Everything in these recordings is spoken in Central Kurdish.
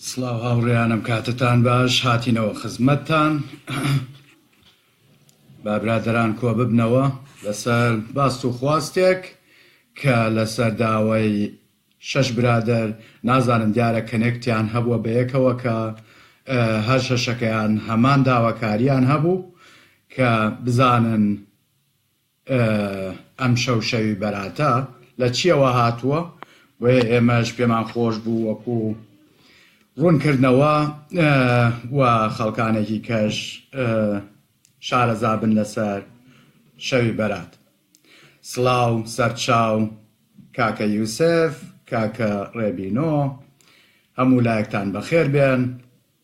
سڵاو هاوڕێیانم کاتتان باش هاتینەوە خزمەتتان بابرادران کۆ ببنەوە لەسەر باست و خواستێک کە لەسەر داوای شەش برادر نازانم دیارە کەنێکتیان هەبووە بەیەکەوە کە هەر شەشەکەیان هەمان داواکاریان هەبوو کە بزانن ئەمشەو شەوی بەراتە، لە چییەوە هاتووە؟ بۆیە ئێمەش پێمان خۆش بوو وەکو ڕوونکردنەوە و خەڵکانێکی کەش شارەزا بن لەسەر شەوی بەرات. سڵاو، سەرچاو، کاکە یوسف، کاکە ڕێبینۆ، هەموو لایەکتان بەخێر بێن.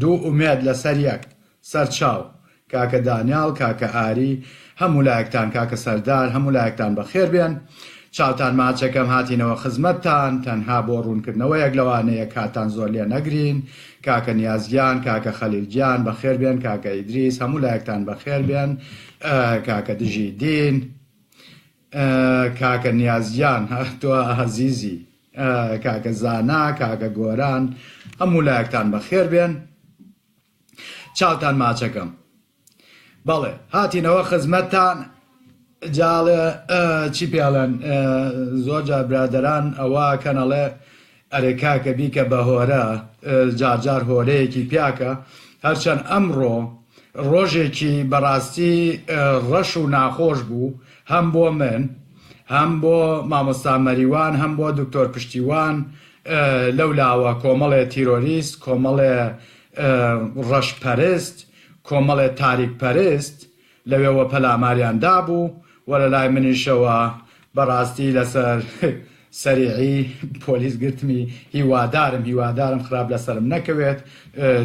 دوو ئومێد لەسەر یەک سەر چاو. کاکە دانیاڵ کاکە ئاری هەموو لایەکتان کاکە سەردار هەموو لایەکتان بەخێر بێن چاوتان ماچەکەم هاتینەوە خزمەتتان تەنها بۆ ڕوونکردنەوەیەک لەوانەیە کاتان زۆر لێ نەگرین کاکە نیاز گیان کاکە خەلیل گیان بەخێر بێن کاکە ئیدریس هەموو لایەکتان بەخێر بێن کاکە دژی دین کاکە نیاز گیان تۆ ئازیزی. کاکە زانا کاکە گۆران هەموو لایەکتان بەخێر بێن چاوتان ماچەکەم بەڵێ هاتینەوە خزمەتتان جاڵێ چی پێڵێن زۆر جار برادەران ئەوە کەنەڵێ ئەرێ کاکە بیکە بە هۆرە جار جار هۆرەیەکی پیاکە هەرچەند ئەمڕۆ ڕۆژێکی بەڕاستی ڕەش و ناخۆش بوو هەم بۆ من هەم بۆ مامۆستا مەریوان هەم بۆ دکتۆر پشتیوان لەو لاوە کۆمەڵێ تیرۆریست کۆمەڵێ ڕەش پەرست کۆمەڵێ تاریک پەرست لەوێوە پەلاماریان دابوو و لەلای منیشەوە بەڕاستی لەسەر سەریعی پۆلیس گرتمی هیوادارم هیوادارم خراپ لەسەرم نەکەوێت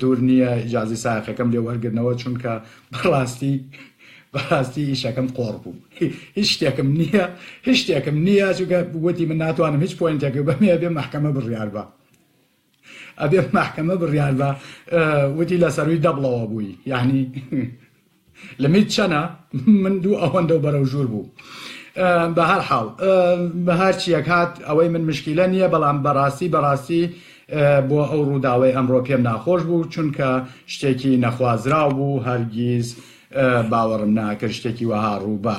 دوور نییە ئیجازەی سایەقەکەم لێ وەرگرنەوە چونکە بەڕاستی بەڕاستی ئیشەکەم قۆڕ بوو هیچ شتێکم نییە هیچ شتێکم نییە چونکە وتی من ناتوانم هیچ پۆینتێک بەمێ بێ مەحکەمە بڕیار بە ئەبێ مەحکەمە بڕیار بە وتی لە سەروی دەبڵەوە بووی یعنی لەمیت چەنە من دوو ئەوەندە و بەرەو ژوور بوو بە هەر حاڵ بە هەرچیەک هات ئەوەی من مشکیلە نییە بەڵام بەڕاستی بەڕاستی بۆ ئەو ڕووداوی ئەمڕۆ پێم ناخۆش بوو چونکە شتێکی نەخوازراو بوو هەرگیز باوەڕم ناکرد شتێکی وەها ڕووبە.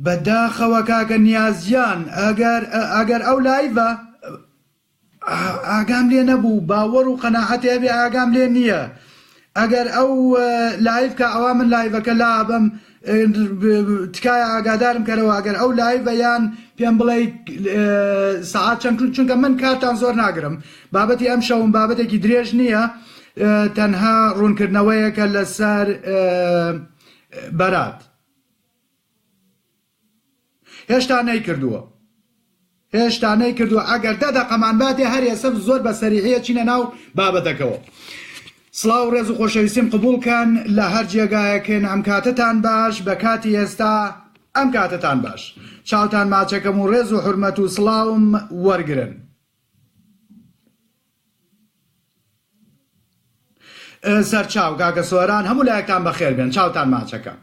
بە داخەوە کاکە نیاز گیان ئەگەر ئەگەر ئەو لایڤە ئاگام لێ نەبوو باوەڕ و قەناعەتی هەبێ ئاگام لێ نییە ئەگەر ئەو لایف کە ئەوا من لایڤەکە لابم تکایە ئاگادارم کەرەوە ئەگەر ئەو لایڤە یان پێم بڵێ سعات چەند چونکە من کارتان زۆر ناگرم بابەتی ئەم شەوم بابەتێکی درێژ نییە تەنها ڕوونکردنەوەیەکە لەسەر ئە بەرات هێشتا نەیکردووە هێشتا نەیکردووە ئەگەر دە دەقەمان باتێ هەر ئێسە زۆر بە سەریحە چینە ناو بابەتەکەەوە سلااو ڕێز و خۆشەویستیم قبولکەن لە هەر جێگایەکن ئەم کاتتان باش بە کاتی ئێستا ئەم کاتتان باش چاوتان ماچەکەم و ڕێز و حرمەت و سلااوم وەرگن سەرچاو، کاکە سۆران هەموو لایەکتان بەخێر بێن چاوتان ماچەکە.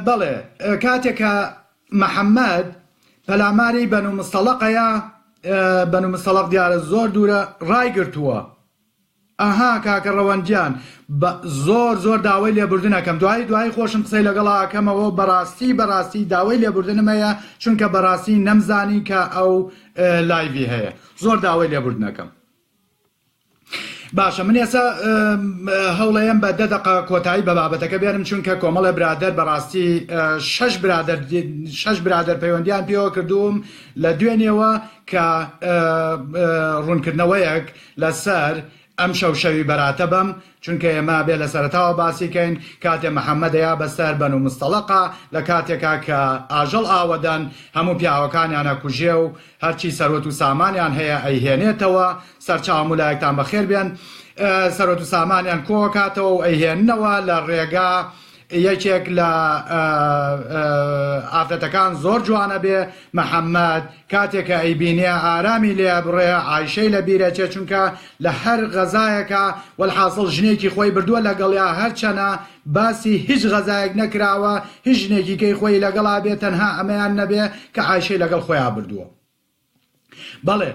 بەڵێ کاتێک کە محەمەد پەلاماری بەنو مستەڵەقەیە بەنو مستەڵەق دیارە زۆر دوورە ڕایگرتووە. ئەها کاکە ڕەوەند گیان زۆر زۆر داوای لێبوردن ئەکەم دوایی دوایی خۆشم قسەی لەگەڵا ئەکەمەوە بەڕاستی بەڕاستی داوای لێبوردنم هەیە چونکە بەڕاستی نەمزانی کە ئەو لایڤی هەیە. زۆر داوای لێبوردنەکەم. باشە من ئێسا هەوڵەیەم بە دە دەقە کۆتایی بە بابەتەکە بێنم چونکە کۆمەڵە برادەر بەڕاستی شش برادر شش برادر پەیوەندیان پێوە کردووم لە دوێنێەوە کە ڕوونکردنەوەیەک لەسەر ئەمشەو شەوی بەراتە بەم چونکە ئێمە ئەبێ لە سەرەتاوە باسی کەین کاتێ محمد دەیا بە سەر بەنو مستەڵەقە لە کاتێکا کە ئاژەڵ ئاوەدەن هەموو پیاوەکانیان ئەکوژێ و هەرچی سەروەت و سامانیان هەیە ئەیهێنێتەوە سەرچاو هەموو لایەکتان بەخێر بێن سەروەت و سامانیان کۆ ئەکاتەوە و ئەیهێننەوە لە ڕێگا یەکێک لە ئافرەتەکان زۆر جوانە بێ محمد کاتێ کە ئەیبینێ ئارامی لێ ئەبڕێ عایشەی لە بیر ئەچێ چونکە لە هەر غەزایەکا وەلحاسڵ ژنێکی خۆی بردووە لەگەڵیا هەرچەنە باسی هیچ غەزایەک نەکراوە هیچ ژنێکی کەی خۆی لەگەڵا بێ تەنها ئەمەیان نەبێ کە عایشەی لەگەڵ خۆیا بردووە. بەڵێ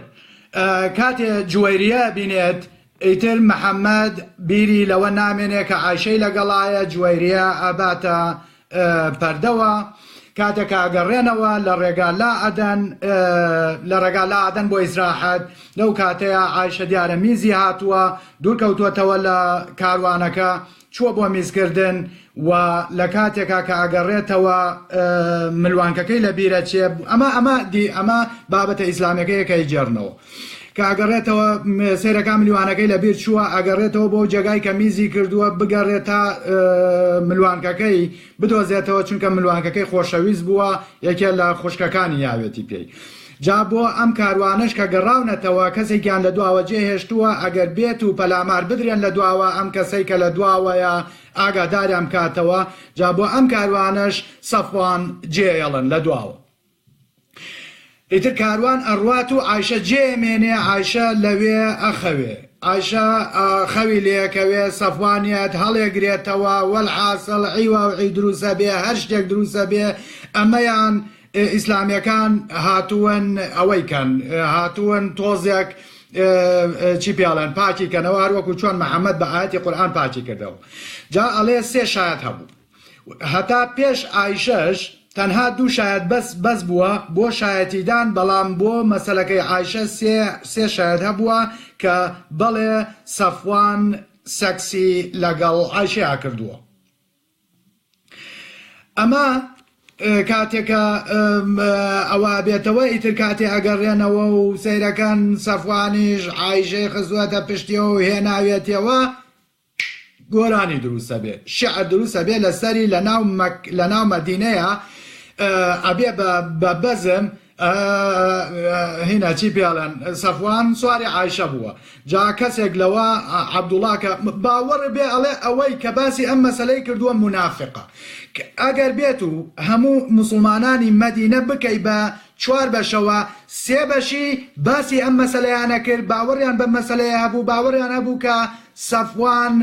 کاتێ جوەیریە بینێت ئیتر محمد بیری لەوە نامێنێ کە عایشەی لەگەڵایە جوەیریە ئەباتە پەردەوە کاتێک ئەگەڕێنەوە لە ڕێگا لا ئەدەن لە ڕێگا لا ئەدەن بۆ ئیسراحەت لەو کاتەیە عایشە دیارە میزی هاتووە دوورکەوتوەتەوە لە کاروانەکە چووە بۆ میزکردن و لە کاتێکا کە ئەگەڕێتەوە ملوانکەکەی لە بیرە چێ ئەمە ئەمە دی ئەمە بابەتە ئیسلامەکەی کە ئەیگێڕنەوە کە ئەگەڕێتەوە سەیرەکە ملیوانەکەی لە بیر چووە ئەگەڕێتەوە بۆ جێگای کە میزی کردووە بگەڕێت تا ملوانکەکەی بدۆزێتەوە چونکە ملوانکەکەی خۆشەویست بووە یەکێ لە خوشکەکانی یاوێتی پێی جا بۆ ئەم کاروانەش کە گەڕاونەتەوە کەسێکیان لە دواوە جێ هێشتووە ئەگەر بێت و پەلامار بدرێن لە دواوە ئەم کەسەی کە لە دواوەیە ئاگاداریان بکاتەوە جا بۆ ئەم کاروانەش سەفوان جێێڵن لە دواوە ئیتر کاروان ئەڕوات و ئایشە جێ مێنێ ئایشە لەوێ ئەخەوێ ئایشە خەوی لەکەوێ سەفوانیت هەڵێگرێتەوە وەل حاسڵ عیوا و عی دروسە بێ هەر شتێک دروسە بێ ئەمەیان ئیسلامیەکان هاتوون ئەوەی کەن هاتوون تۆزێک چی پیاڵێن پاکی کەنەوە هەروەکو چۆن محەممەد بە ئاەتی قورآان پاکی کردەوە جا ئەڵێ سێ شایەت هەبوو هەتا پێش ئایشەش تەنها دوو شایەت بەس بەس بووە بۆ شایەتیدان بەڵام بۆ مەسلەکەی ئایشە سێ سێ شایەت هەبووە کە بەڵێ سەفوان سەکسی لەگەڵ ئایشەیە کردووە ئەمە کاتێکە ئەوە بێتەوە ئیتر کاتی ئەگەڕێنەوە و سەیرەکەن سەفوانیش ئایشەی خزوەتە پشتیەوە و هێناوێتەوە گۆرانی دروستە بێ شعر دروستە بێ لەسەری لە ناو مەک لە ناو مەدینەیە ئەبێ بە بەزم هینا چی پێڵێن سەفوان سواری عیشە بووە جا کەسێک لەوە عبدوڵاکە باوەڕ بێ ئەڵێ ئەوەی کە باسی ئەم مەسلەی کردووە منافقە ئەگەر بێت و هەموو مسلمانانی مەدینە بکەی بە چوار بەشەوە سێ بەشی باسی ئەم مەسلەیانە کرد باوەڕیان بە مەسلەیە هەبوو باوەڕیان هەبوو کە سەفوان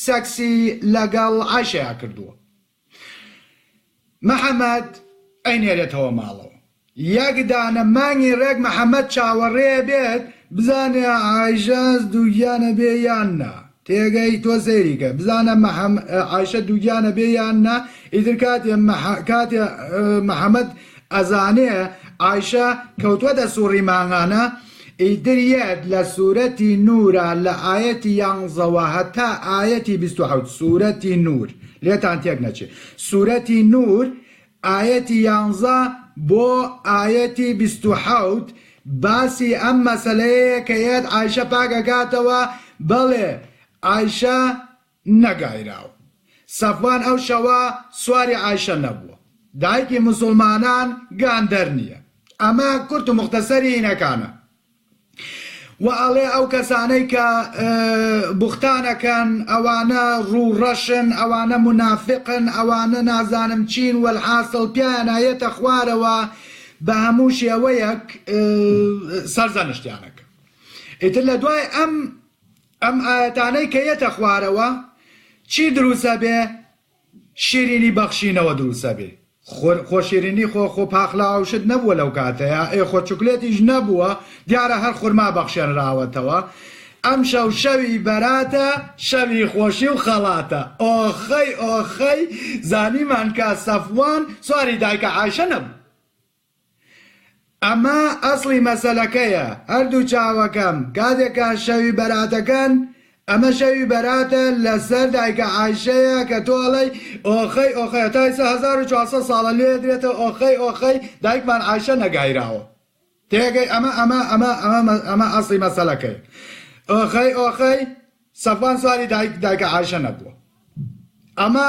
سەکسی لەگەڵ عیشەیە کردووە محەمەد ئەینێرێتەوە ماڵەوە یەک دانە مانگی ڕێک محەمەد چاوەڕێ بێت بزانێ عایشە دووگیانە بێ یان نا تێگەی تۆ سەیری کە بزانە عایشە دووگیانە بێ یان نا ئیتر کاتێ کاتێ محەمەد ئەزانێ عایشە کەوتوەتە سوڕی مانگانە ئیتر یەت لە سورەتی نورە لە ئایەتی یانزەوە هەتا ئایەتی بیست و حەوت سورەتی نور لێتان تێک نەچێ سورەتی نور ئایەتی یانزە بۆ ئایەتی بیست و حەوت باسی ئەم مەسەلەیەیە کە یەت عایشە پاک ئەکاتەوە بەڵێ عایشە نەگایراوە. سەفوان ئەو شەوە سواری عایشە نەبووە. دایکی موسوڵمانان گاندەر نییە. ئەمە کورت و موختەسەری هینەکانە. وە ئەڵێ ئەو کەسانەی کە بوختان ئەکەن ئەوانە ڕوو ڕەشن ئەوانە مونافقن ئەوانە نازانم چین وەلحاسڵ پیایان ئەیەتە خوارەوە بە هەموو شێوەیەک سەرزەنشتیان ئەکا ئیتر لە دوای ئەم ئەم ئایەتانەی کە یەتە خوارەوە چی دروسە بێ شیرینی بەخشینەوە دروسە بێ خۆ شیرینی خۆ خۆ پاقلە ئەو شت نەبووە لەو کاتەیا ئێ خۆ چوکلێتیش نەبووە دیارە هەر خورما بەخشێنراوەتەوە ئەم شەو شەوی بەراتە شەوی خۆشی و خەڵاتە ئۆخەی ئۆخەی زانیمان کە سەفوان سواری دایکە عایشە نەبوو. ئەمە ئەسڵی مەسەلەکەیە، هەردوو چاوەکەم کاتێک کە شەوی بەراتەکەن، ئەمە شەوی بەراتە لەسەر دایکە عایشەیە کە تۆ ئەڵێی ئۆخەی ئۆخەی هەتا ئیستا هەزار و چوار سەد ساڵە لێ ئەدرێتەوە ئۆخەی ئۆخەی دایکمان عایشە نەگایراوە تێگەی ئەمە ئەمە ئەمە ئەمە ئەمە ئەسڵی مەسەلەکەیە ئۆخەی ئۆخەی سەفوان سواری دایک دایکە عایشە نەبووە ئەمە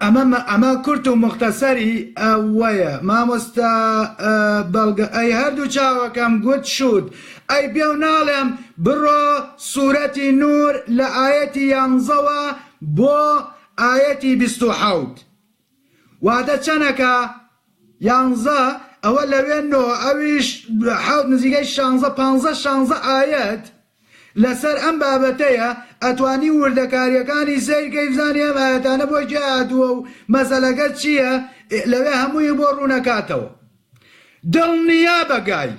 ئەمە مە ئەمە کورت و موختەسەر ی ئە وەیە مامۆستا ئە بە گە ئە ی هە ردوو چاوەکەم گوت شووت ئە ی پێو ناڵێم بڕۆ سورە تی نور لە ئایە تی یانزە وە بۆ ئایە تی بیست و حەوت واتە چەنە کە یانزە ئەوە لە وێ نۆ ئە ویش حەوت نزیکەی شانزە پانزە شانزە ئایەت لەسەر ئەم بابەتەیە ئەتوانی وردەکاریەکانی سەیرکەی بزانی ئەم ئایەتانە بۆ کێ هاتووە و مەسەلەکە چییە لەوێ هەمووی بۆ ڕوونەکاتەوە دڵنیابە گای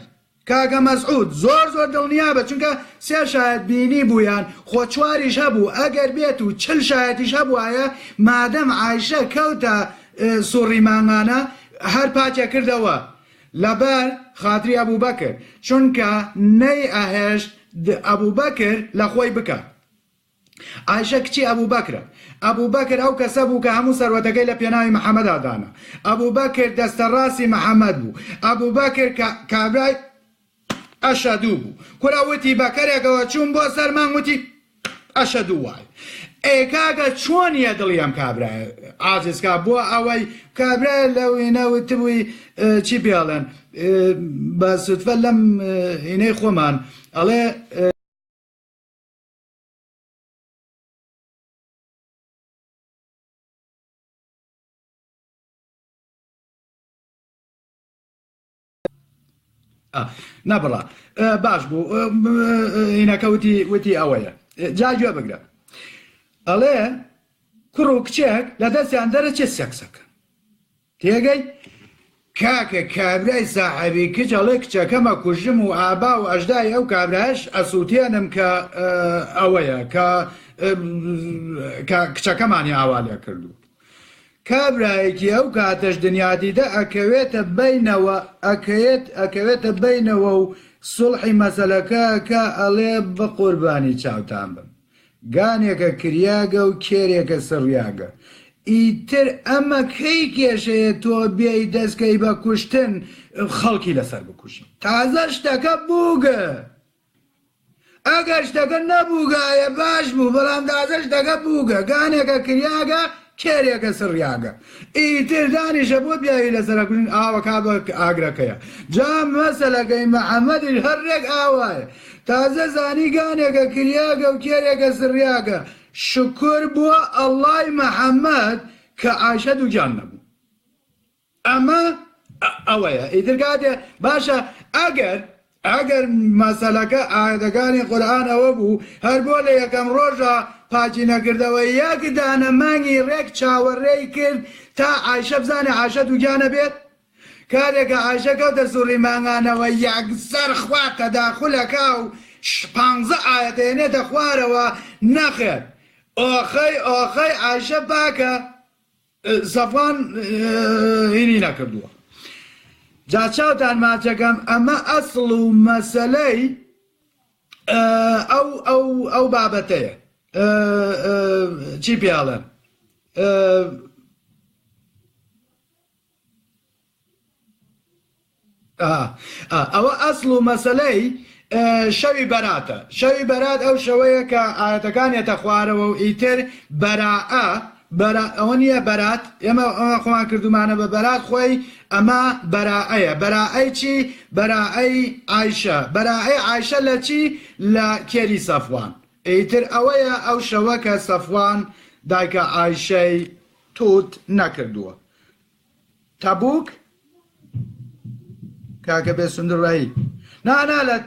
کاکە مەسعود زۆر زۆر دڵنیابە چونکە سێ شایەت بینیبوویان خۆ چواریش هەبوو ئەگەر بێت و چل شایەتیش هەبوایە مادەم عایشە کەوتە سوڕی مانگانە هەر پاکیەکردەوە لەبەر خاتری ئەبوبەکر چونکە نەی ئەهێشت ئەبوبەکر لەخۆی بکات عایشە کچی ئەبوبەکرە ئەبوبەکر ئەو کەسە بوو کە هەموو سەروەتەکەی لە پێناوی محەمەدا دانا ئەبوبەکر دەستە ڕاستی محەمەد بوو ئەبوبەکر کابرای ئەشەدوو بوو کورە وتی بەکەرێکەوە چووم بۆ سەر مانگ وتی ئەشەدوو وای ئەی کاکە چۆن یە دڵی ئەم کابرایە عاجز کا بۆ ئەوەی کابرای لە وینە وتبووی چی پێڵێن بە سوتفە لەم هینەی خۆمان ئەڵێ نەبڕە باش بوو هینەکەوتی وتی ئەوەیە جا گوێ بگرە ئەڵێ کوڕ و کچێک لە دەستیان دەرەچێت سەکسەکە تێگەی کاکە کابرای ساحەبی کچ ئەڵێ کچەکەمە کوژم و ئابا و ئەشدای ئەو کابراش ئەسووتێنم کە ئەوەیە کە کچەکەمانی ئاوا لێ کردووە کابرایەکی ئەو کاتەش دنیادیدە ئەکەوێتە بەینەوە ئەکەێت ئەکەوێتە بەینەوە و سوڵحی مەسەلەکە ئەکا ئەڵێ بەقوربانی چاوتان بم گانێکە کریاگە و کێرێکە سڕیاگە ئیتر ئەمە کەی کێشەیە تۆ بێی دەسکەی بە کوشتن خەڵکی لەسەر بکوژی تازە شتەکە بووگە ئەگەر شتەکە نەبووگایە باش بوو بەڵام تازە شتەکە بووگە گانێکە کریاگە کێرێکە سڕیاگە ئیتر دانیشە بۆ پیاوی لەسەرەکوژن ئاوە کا بە ئاگرەکەیە جا مەسەلەکەی محمدیش هەر ڕێک ئاوایە تازە زانی گانێکە کریاگە و کێرێکە سڕیاگە شکور بۆ اللە ی محمد کە عایشە دووگیان نەبوون. ئەمە ئەوەیە ئیتر کاتێ باشە ئەگەر ئەگەر مەسەلەکە ئاەتەکانی قورئان ئەوە بوو هەر بۆ لە یەکەم ڕۆژە پاچی نەکردەوە یەک دانە مانگی ڕێک چاوەڕێی کرد تا عایشە بزانێ عاشە دووگیانە بێت کارێکە عاشە کەوتە سوڕی مانگانەوە یەکسەر خوا تەداخولەکە و پانزە ئاەتێنێتە خوارەوە نەخێر ئۆخەی ئۆخەی عاشە پاکە زەبان هینی نەکردووە جا چاوتان ماچەکەم ئەمە ئەسڵ و مەسەلەی ئەو ئەو ئەو بابەتەیە چی پێڵێن ئەوە ئەسڵ و مەسەلەی شەوی بەراتە، شەوی بەرات ئەو شەوەیە کە ئایەتەکان یەتە خوارەوە و ئیتر بەرائە، ئەوە نییە بەرات ئێمە خۆمان کردومانە بە بەرات خۆی ئەمە بەرائەیە، بەرائەی چی؟ بەرائەی عایشە، بەرائەی عایشە لە چی؟ لە کێری سەفوان، ئیتر ئەوەیە ئەو شەوە کە سەفوان دایکە عایشەی توت نەکردووە، تەبوک کاکە بێ سندڕایی نانا لە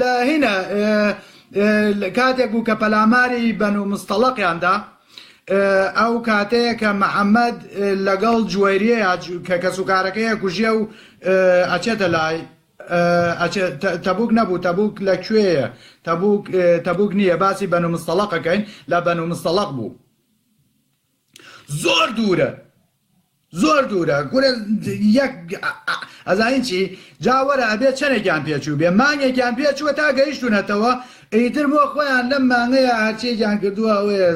لە هینە کاتێک بوو کە پەلاماری بەن و مستەڵقیاندا ئەو کاتەیە کە محەممەد لەگەڵ جوێریەیە کە کەسوکارەکەیە کوژیە و ئەچێتە لای ئەچێ تەبوک نەبوو تەبوک لە کوێیە تەبوک تەبوک نییە باسی بەنو مستەڵەقەکەین لە بەنو مستەڵەق بوو زۆر دوورە زۆر دوورە گورە یەک ئەزانین چی جاوەرە ئەبێ چەندێکیان پێچوو بێ مانگێکیان پێچووە تا گەیشتونەتەوە ئیتر بۆ خۆیان لەم مانگەیە هەرچێکیان کردووە ئەوەیە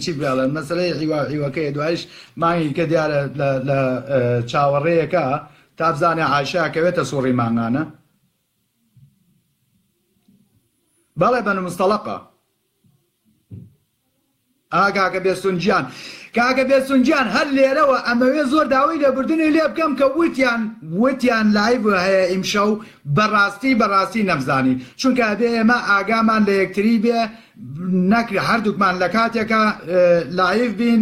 چی بڵێن مەسلەی هیوا هیوەکەی دوایش مانگی کە دیارە لە چاوەڕێیەکە تابزانێ عایشە ئەکەوێتە سوڕی مانگانە؟ بەڵێ بەنو مستەڵەقە. ئا کاکە بێستون گیان. کاکە بێستون گیان هەر لێرەوە ئەمەوێ زۆر داوەی لێبوردنی لێ بکەم کە وتیان وتیان لایڤ هەیە ئیمشەو بە ڕاستی بە ڕاستی نەمزانی چونکە ئەبێ ئێمە ئاگامان لە یەکتری بێ نەک هەردووکمان لە کاتێکا لایڤ بین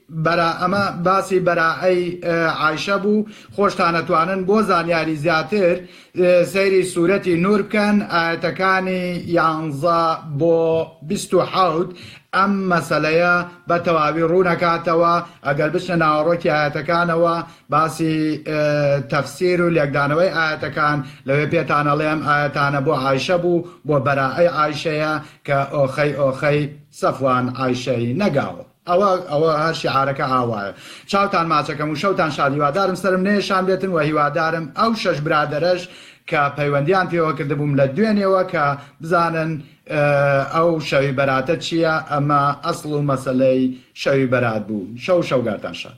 برا ئەمە باسی بەرائەی عائشە بوو خۆشتان ئەتوانن بۆ زانیاری زیاتر سەیری سورەتی نور بکەن ئایەتەکانی یانزە بۆ بیست و حەوت ئەم مەسەلەیە بە تەواوی ڕوونەکاتەوە ئەگەر بچنە ناوەڕۆکی ئایەتەکانەوە باسی تەفسیر و لێکدانەوەی ئایەتەکان لەوێ پێتان ئەڵێم ئایەتانە بۆ عائشە بوو بۆ بەرائەی عائشەیە کە ئۆخەی ئۆخەی سەفوان عائشەی نەگاوە. ئەوە ئەوە هەر شیعارەکە ئاوایە. چاوتان ماچەکەم و شەوتان شاد هیوادارم سەرم نەیەشان بێتن وە هیوادارم ئەو شەش برادەرەش کە پەیوەندیان پێوە کردبووم لە دوێنێوە کە بزانن ئەو شەوی بەراتە چیە ئەمە ئەسڵ و مەسەلەی شەوی بەرات بوو شەو و شەوگارتان شاد.